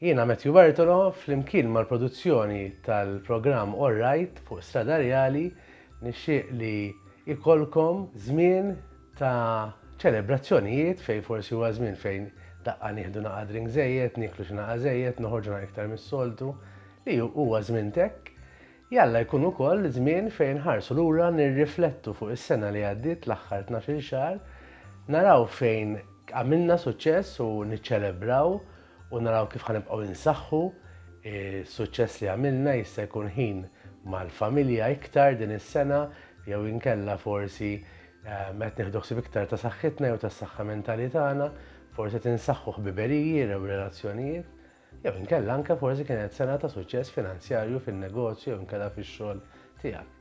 Jiena Matthew Bartolo, flimkien mal-produzzjoni tal-programm All Right fuq Strada Rjali, nixtieq li jkollkom żmien ta' ċelebrazzjonijiet fejn forsi huwa żmien fejn daqqa nieħdu naqa' drink żejjed, nieklu xi naqa' żejjed, noħorġu naqa' iktar mis-soltu, li huwa żmien t'hekk. Jalla jkun ukoll żmien fejn nħarsu lura nirriflettu fuq is-sena li għaddiet, l-aħħar tnax-il xahar, naraw fejn għamilna suċċess u niċċelebraw, u naraw kif ħa nibqgħu insaħħu s-suċċess li għamilna, jista' jkun ħin mal-familja iktar din is-sena jew inkella forsi qed nieħdu ħsieb iktar ta' saħħitna jew tas-saħħa mentali tagħna, forsi qed insaħħu ħbiberiji jew relazzjonijiet, jew inkella anke forsi kienet sena ta' suċċess finanzjarju fin-negozju jew inkella fix-xogħol tiegħek.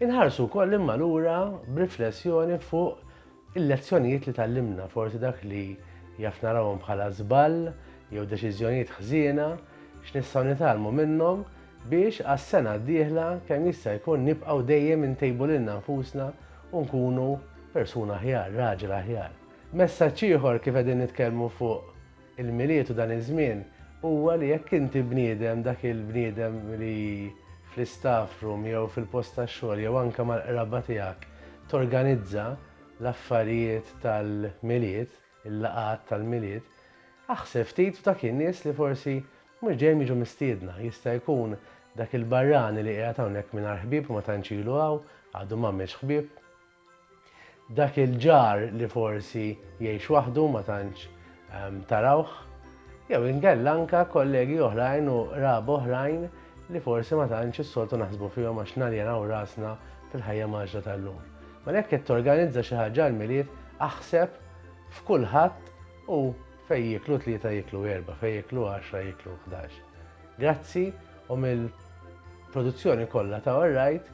Inħarsu wkoll imma lura b'riflessjoni fuq il-lezzjonijiet li tgħallimna, forsi dak li jaf narawhom bħala żball jew deċiżjonijiet ħżiena, x'nistgħu nitgħallmu minnhom biex għas-sena d-dieħla kemm jista' jkun nibqgħu dejjem intejbu lilna nfusna u nkunu persuna aħjar, raġel aħjar. Messaġġ ieħor kif qegħdin nitkellmu fuq Il-Milied u dan iż-żmien huwa li jekk inti bniedem, dak il-bniedem li fl-istaff room jew fil-post tax-xogħol jew anke mal-qraba tiegħek torganizza l-affarijiet tal-Milied, il-laqgħat tal-Milied, aħseb ftit f'dak in-nies li forsi mhux dejjem jiġu mistiedna. Jista' jkun dak il-barrani li qiegħed hawnhekk mingħajr ħbieb u ma tantx ilu hawn, għadu m'għamilx ħbieb. Dak il-ġar li forsi jgħix waħdu ma tantx tarawh, jew inkella anke kollegi oħrajn u qraba oħrajn li forsi ma tantx is-soltu naħsbu fihom għax naljenaw rasna fil-ħajja mgħaġġla tal-lum. Mela jekk qed torganizza xi ħaġa għall-Milied, aħseb f'kulħadd u fejn jieklu tlieta jieklu erbgħa, fejn jieklu għaxra jieklu ħdax. Grazzi u mill-produzzjoni kollha ta' All Right